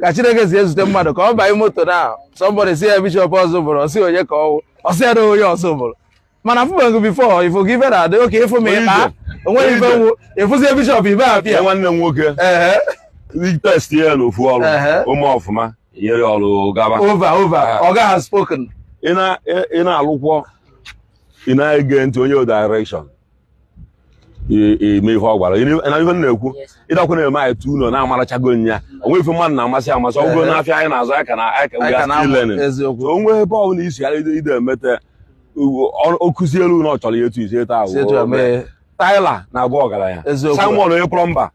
ka chineke si ezute mmadụ ka ọ banye moto na somebody sị ya bishop ọzọ bụrụ ọ sị onye ka ọ wụ ọ sị ya na onye ọzọ bụrụ m na-afụbeghị before ifo gị ife na-adị oke ịfụ m ịkpa o nweghị ife nwụ ịfụzie bishop ibe apịa nwanne m nwoke test ya na ofu ọrụ ụmụ ọfụma nyere ọrụ gaba over over ọ gaghị spoken ị na-alụkwọ ị na-ege ntị onye direction eme ife ọ gwara na ife na-ekwu ịdakwa na-eme anyị tu unu na-amarachago na o nwe ife mmadụ na-amasị amasị ọgụgo n'afịa anyị na-azụ aka na aka onwe ebe ọ bụla isi ghara ide emeta okụzi elu na ọ chọrọ ya etu isi eto ahụ tiler na-abụ ọgaranya amen onye mba.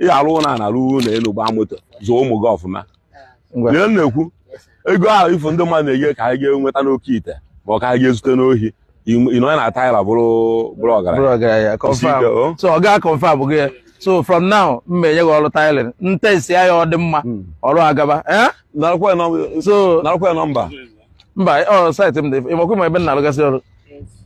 ị ga-arụ ụlọ a na-arụ ụlọ elu gbaa moto zụọ ụmụ gị ọfụma Ngwa. ihe m na-ekwu ego ahụ ị fụ ndị mmadụ na-enye ka anyị ga-enweta n'oke ite ma ọ ka anyị ga-ezute n'ohi ị- ị nọ na tiler bụrụ bụrụ ọgaranya bụrụ ọgaranya Isi ike, o. confirm so ọ ga-a confirm gị ya so from now m ma enye gị ọrụ tiling m test ya ọ dị mma ọrụ agaba eh? narakwa ya nọm- so narakwa ya number mba ọ site m dị ị makwa ma ebe m na-alụgasị ọrụ